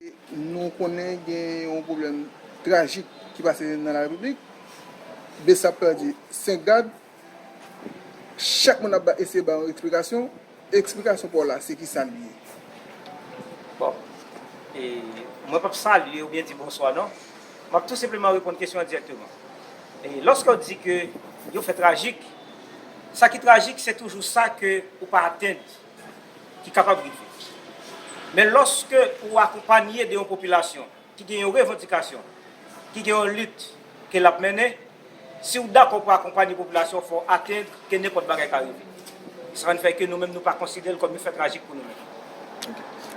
Nou konnen gen yon pwoblèm trajik ki pase nan la Repiblik. Bsap pèdi 5 gad. Chak moun ap eseye bay yon eksplikasyon. Eksplikasyon pa w la se ki sa li ye? Bon, e mwen pap salye oubyen di bonswa non. Map tou senpleman reponn kesyon an dirèkteman. E lòske w di ke yon fè trajik, sa ki trajik se toujou sa ke ou pa atenn. ki kapab rive. Men lòske ou akonpanye de yon popilasyon ki gen yon revandikasyon, ki gen yon lit ke lap mennen, si ou dakò pou akonpanye popilasyon fò ou atenn ke nenpòt bagay ka rive. Se sa n fè ke nou menm nou pa konsidere l kòm yon fè trajik pou nou menm.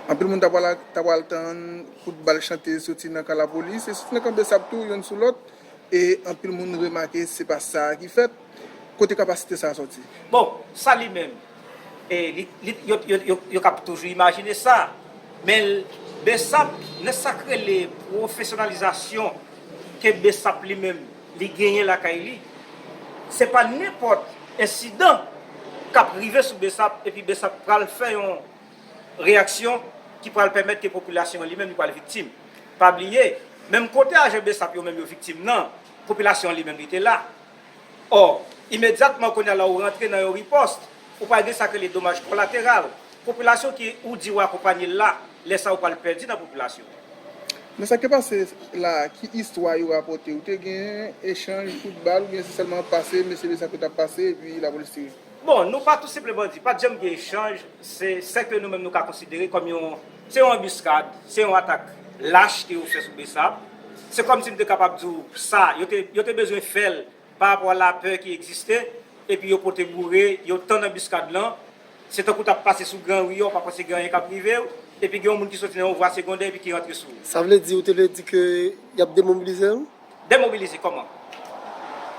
Anpil moun ta pral ta pral tann kout bal chante soti nan kan lapolis e soti nan kan bsap tou yonn sou lòt e anpil moun remake se pa sa ki fèt. Kote kapasite sa sòti? Bon, sa li menm? E yo kab toujou imajine sa. Men bsap nan sak rele pwofesyonalizasyon ke bsap li menm li genyen lakay li, se pa nenpòt ensidan kap rive sou bsap epi bsap pral fè yon reyaksyon ki pral pèmèt ke popilasyon an li menm li pral viktim. Pa bliye, menm kote ajan bsap yo menm yo viktim nan, popilasyon an li menm li te la. Or, imedyatman kounye a la ou rantre nan yon ripost, ou pral gen sa k rele domaj kolateral. Popilasyon ki ou di ou akonpanye l la, lè sa ou pral pèdi nan popilasyon an. Men sa k te pase la a, ki istwa yo rapòte? Ou te gen echanj kout bal oubyen se sèlman pase mesye mesye ap fè tap pase epi lapolis tire? Bon, nou pa tou senpl bandi. Pa t janm gen echanj. Se sè ke nou menm nou ka konsidere kòm yon, se yon anbiskad, se yon atak lach ke yo fè sou Bsap. Se kòmsi m te kapab di w sa, yo te yo te bezwen fè l pa rapò a lapè ki egziste, epi yo pote boure, yo tann anbiskad lan, se tankou t ap pase sou gran ri a, w pa panse gen anyen k ap rive w, epi gen yon moun ki soti nan yon vwa segondè epi ki rantre sou ou. Sa vle di, ou te vle di ke y ap demobilize m? Demobilize kòman?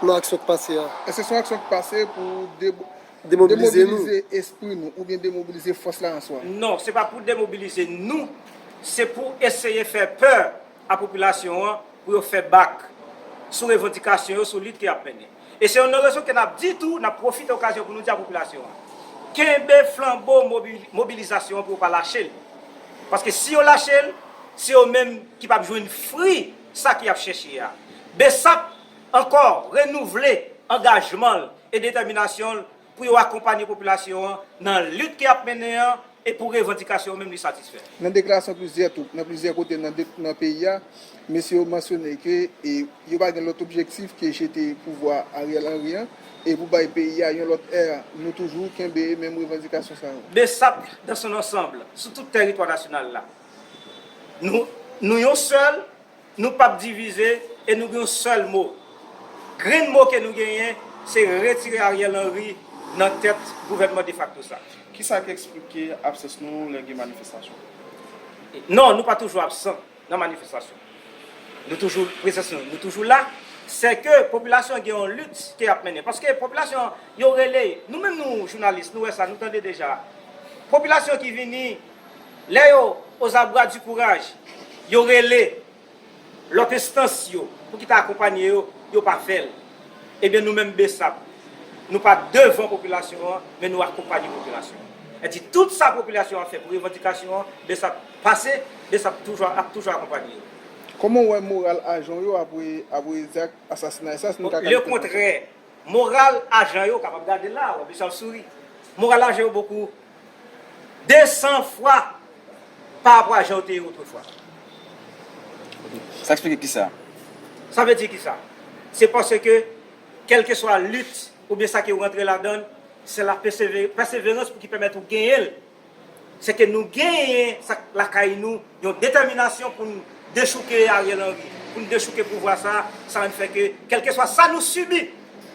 Nan aksyon k pase a. Eske se yon aksyon k pase pou. Demobilize nou. Demobilize espri nou oubyen demobilize fòs la an swa. Non, se pa pou demobilize nou, se pou eseye fè pè a popilasyon an pou yo fè bak sou revandikasyon yo, sou lit ke y ap mennen. E se yon nan rezon ke n ap di tou, n ap pwofite okazyon pou nou di a popilasyon an, kenbe flanbo mobilizasyon an pou yo pa lache l. Paske si yo lache l, se yo menm ki p ap jwenn fri sa ke y ap chèche a. Bsap ankò renouvle angajman l e detèminasyon l pou yo akonpanye popilasyon an nan lit ke y ap mennen an e pou revandikasyon yo menm li satisfè. Nan deklarasyon plizyè tou nan plizyè kote nan peyi a, mesye yo mansyone ke yo pa gen lòt objektif ke jete pouvwa Ariel Henry an e pou bay peyi a yon lòt è. Nou toujou kenbe menm revandikasyon sa yo. Bsap dans son ansanble sou tout tèritwa nasyonal la. Nou, nou yon sèl. Nou pap divize e nou gen yon sèl mo. Grenn mo ke nou genyen se retire Ariel Henry nan tèt gouvènman defakto sa. Kisa k eksplike absans nou lè gen manifestasyon? Non, nou pa toujou absan nan manifestasyon. Nou toujou, prezans nou, nou toujou la. Se ke popilasyon an gen yon lit ke y ap mennen. Paske popilasyon an, yo rele, nou menm nou jounalis, nou wè sa, nou tande deja. Popilasyon ki vini. Lè yo ozabra di kouraj, yo rele lòt enstans yo pou ki ta akonpanye yo, yo pa fè l. Ebyen nou menm bsap, nou pa devan popilasyon an, men nou akonpanye popilasyon an. Sa di tout sa popilasyon an fè pou revandikasyon an, bsap pase, bsap toujou ap toujou akonpanye yo. Kòman w wè moral ajan w yo apre apre zak asasinay sa, si nou ka kalifye l konsa? Lekontrè, moral ajan yo, w kapab gade l la a, w wè bsap ap souri. Moral ajan yo bokou. 200 fwa pa rapò a jan yo te ye otrefwa. Sa eksplike kisa? Sa vle di kisa? Se paske kèlkeswa lit oubyen sa ke ou rantre ladan l, se la pèseverans pou ki pèmèt ou genyen l. Se ke nou genyen sa k lakay nou, yon detèminasyon pou n dechouke Ariel Henry, pou n dechouke pouvwa sa a, sa rann fè ke kèlkeswa sa nou sibi,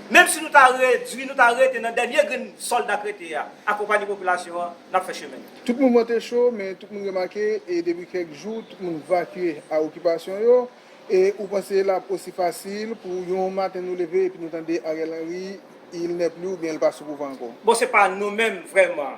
Menm si nou ta redwi, nou ta rete nan dènye grenn sòl dak rete a, akonpanye popilasyon an, n ap fè chemen n. Tout moun mante cho, men tout moun remake e depi kèk jou tout moun vakye a okipasyon yo, e ou panse l ap osi fasil pou yon maten nou leve epi nou tande Ariel Henry, il n'est plus oubyen l pa sou pouvwa ankò. Bon se pa nou menm vrèman.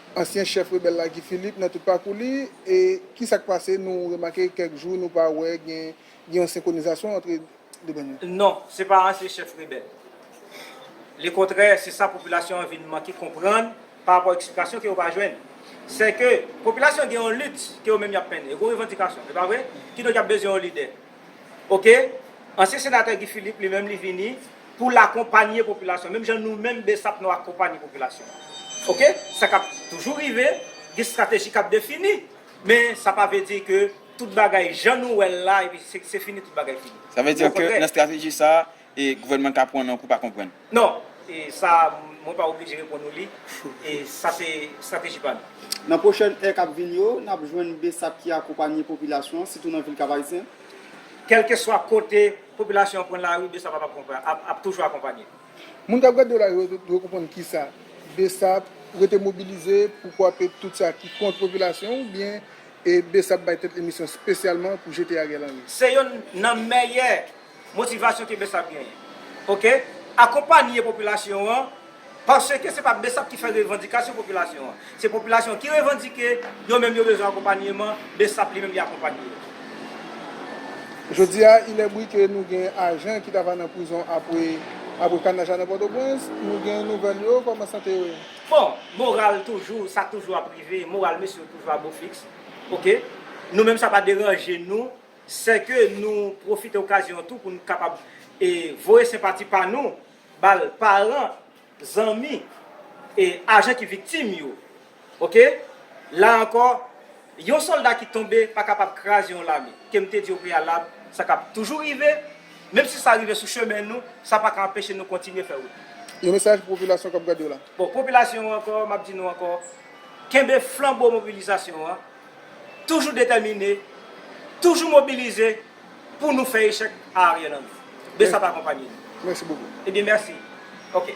Ansyen chèf rebèl la Guy Philippe nan tout pakou li e ki sa k pase nou remake kèk jou nou pa wè gen gen yon senkwonizasyon antre 2 bann yo. Non, se pa ansyen chèf rebèl. Lekontrè, se sa popilasyon an vin manke konprann pa rapò eksplikasyon ke yo pa jwenn. Sè ke popilasyon gen yon lit ke yo menm y ap mennen. Yo gen yon revandikasyon, e pa vre? Kidonk y ap bezwen yon lidè. ok ansyen senatè Guy Philippe li menm li vini pou l akonpanye popilasyon menm jan nou menm bsap nou akonpanye popilasyon an ok sa kap toujou rive gen strateji kap defini men sa pa vle di ke tout bagay jan nou wè l la epi se fini tout bagay fini Sa vle di ke nan strateji sa e gouvènman an ka pran nan kou pa konprann. Non, sa a mwen pa oblije reponn ou li. Sa se estrateji pa nou. Nan pwochèn è k ap vin yo, n ap jwenn bsap ki akonpanye popilasyon an, sitou nan vil Kapayisyen. Kèlkeswa kote popilasyon an pran lari, bsap ap toujou akonpanye. Moun k ap gade w la yo dwe konprann kisa? Bsap rete mobilize pou kwape tout sa ki kont popilasyon an oubyen bsap bay tèt li misyon spesyalman pou jete Ariel Henry? Se yonn nan mèyè Motivasyon ke bsap genyen ok akonpanye popilasyon an paske se pa bsap ki fè revandikasyon popilasyon an se popilasyon an ki revandike yo menm yo bezwen akonpanyeman bsap li menm li akonpanye yo. Jodia il est bri ke nou gen ajan ki ta va nan prizon apre apre kanaj la nan pòtoprens nou gen nouvèl yo kòman sante yo ye? Bon moral toujou sa toujou ap rive moral mesye yo toujou a bo fiks ok nou menm sa pa deranje nou. sè ke nou pwofite okazyon an tou pou nou kapab e voye senpati pa nou bal paran, zanmi e ajan ki viktim yo ok la ankò yon sòlda ki tonbe pa kapab kraze yon lame kem te di o preyalab sa ka toujou rive menm si sa rive sou chemen nou sa pa ka anpeche nou kontinye fè wout nou. Yon mesaj pou popilasyon kap gade w la. Bon popilasyon ankò map di nou ankò kenbe flanbo mobilizasyon an. toujou detèmine, toujou mobilize pou nou fè echèk a Ariel Henry. Bsap akonpanye nou. Mèsi bokou. Ebyen mèsi. Ok.